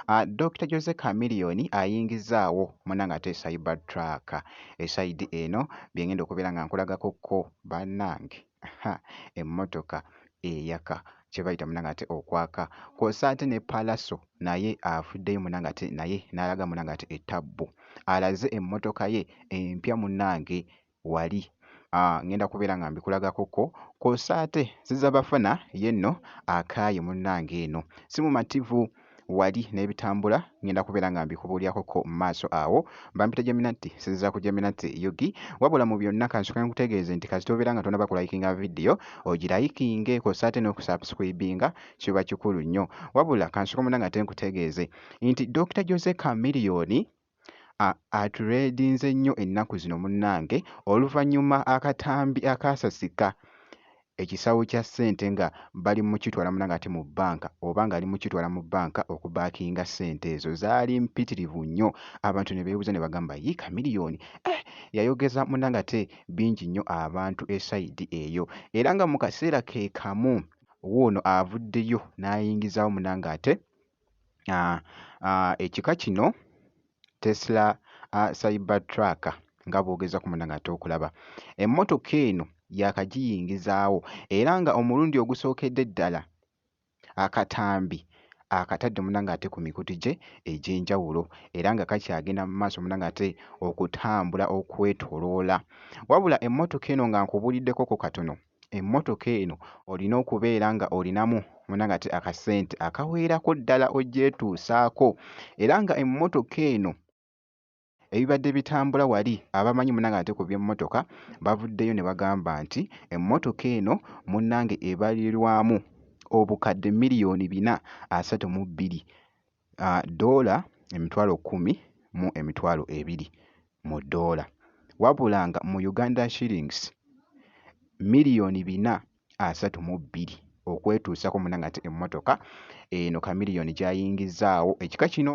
Ah, Dr. Jose Chameleon ayingizaawo munanga ate cyber truck esayidi eno byengenda okubeera nga nkulagako ko banange emmotoka eyaka kyebayita munanga ate okwaka kwosa ate ne palaso naye avuddeyo munanga ate naye nalaga munanga ate etabbu alaze emmotoka ye empya munange wali ah, ngenda kubeera nga mbikulagako ko kwosa ate ziza bafana yenno akaaye munnange eno si mumativu wali n'ebitambula ngenda kubeera nga mbikubuulyako ko mu maaso awo bampita jaminatti sinziza ku jaminatti yugi wabula mu byonna kansoke nkutegeeze nti kasita obeera nga tonaba kulayikinga vidiyo ogirayikinge kwosa ate n'okusubscribinga kiba kikulu nnyo wabula kansoke munnange ate nkutegeeze nti dokita jose kamiliyoni aturedinze nnyo ennaku zino munnange oluvannyuma akatambi akaasasika ekisawo kya ssente nga bali mukitwala munange ate mu bbanka oba ng'ali mukitwala mu bbanka okubaakinga ssente ezo zaali mpitirivu nnyo abantu ne beebuza ne bagamba yi kamiliyoni eh, yayogeza munange ate bingi nnyo abantu esayidi eyo era nga mu kaseera ke kamu wuuno avuddeyo n'ayingizaawo munange ate ekika kino Tesla Cyber Truck nga bw'ogezako munda ng'ate okulaba. Emmotoka eno yaakagiyingizaawo era nga omulundi ogusookedde ddala akatambi akatadde munda ng'ate ku mikutu gye egy'enjawulo era nga kakyagenda mu maaso munda ng'ate okutambula okwetoloola. Wabula emmotoka eno nga nkubuuliddekoko katono. emmotoka eno olina okubeera nga olinamu munanga ti akasente akaweerako ddala ogyetuusaako era nga emmotoka eno ebibadde bitambula wali abamanyi munanga ate ku byemmotoka bavuddeyo ne bagamba nti emmotoka eno munnange ebalirwamu obukadde miliyoni bina asatu mu bbiri doola emitwalo kkumi mu emitwalo ebiri mu doola wabula nga mu Uganda shillings million bina asatu mu bbiri okwetuusako muna ngate emmotoka eno kamiliyoni gyayingizzaawo ekika kino.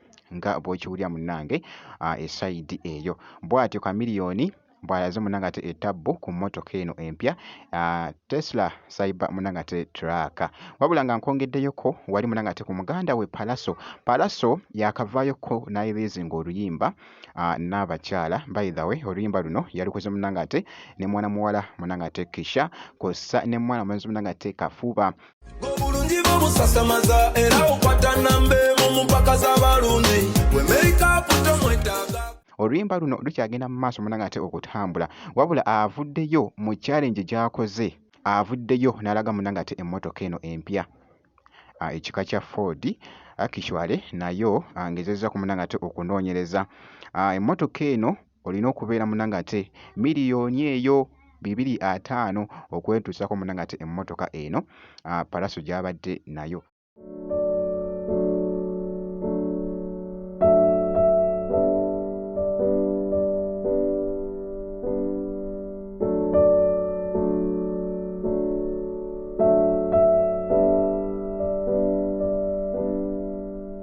nga bwokiwulira munange uh, esaidi eyo bwatyo kamiliyoni bwalaze munange ate etabbu ku motoka eno empya uh, tesla cyber munange ate traka wabula nga nkongedeyoko wali munange ate ku muganda we palaso palaso yakavayoko nayelezinga oluyimba uh, nabakyala by the way oluyimba luno yalukoze munange ate ne mwana muwala munange ate kisha kosa ne mwana mwenzi munange ate kafuba obulungi bwo busasamaza era okwata namba emu mu mpaka z'abalundi we meikaapu tomwetaaga oluyimba luno lukyagenda mu maaso munanga ate okutambula wabula avuddeyo mu challenge gyakoze avuddeyo n'alaga munanga ate emmotoka eno empya ah, ekika kya ford akishwale ah, nayo angezezza ah, ku munanga ate okunoonyereza emmotoka eno olina okubeera munanga ate miliyoni eyo bibiri ataano okwetuusako munanga ate emmotoka eno ah, palaso gyabadde nayo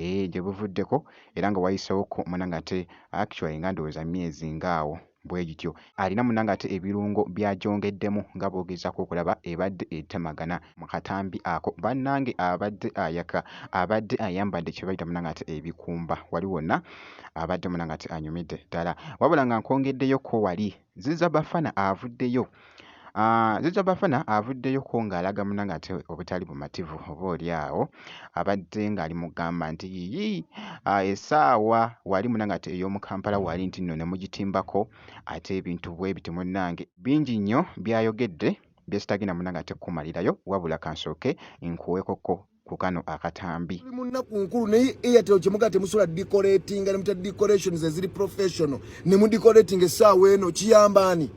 Eeh gye buvuddeko era nga wayisewokko munange ate actually nga ndowooza myezi nga awo bwe gityo. Alina munange ate ebirungo by'agyongeddemu nga bw'ogezaako okulaba ebadde etemagana mu katambi ako bannange abadde ayaka abadde ayambadde kye bayita munange ate ebikumba wali wonna abadde munange ate anyumidde ddala wabula nga nkwongeddeyo ko wali Ziza Bafana avuddeyo ah, Ziza Bafana avuddeyo ko ng'alaga munange ate obutali bumativu oba oli awo abadde ng'ali mugamba nti yiyi ah, esaawa wali munange ate ey'omu Kampala wali nti nno ne mugitimbako ate ebintu bwe biti munange bingi nnyo byayogedde byesitagenda munange ate kukumalirayo wabula kansooke nkuweekoko ku kano akatambi tuli mu nnaku nkulu naye airtel kyemugaa temusobola decoratinga ne muta decorations eziri professional ne mu decorating essaawa eno kiyamba ani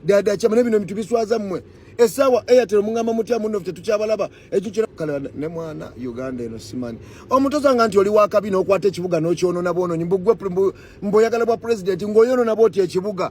dada kyama ne bino ebintu biswaza mmwe essaawa airtel mungamba mutya munno ffe tetukyabalaba ekyo kira kale ne mwana uganda eno simani omutoza nga nti oli wakabi n'okwata ekibuga n'okyonona bwonoonyi mbugwe mboyagala bwa pulezidenti ng'oyonona bwoti ekibuga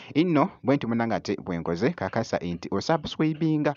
inno bwenti munange ate bwenkoze kakasa inti osubscribinga.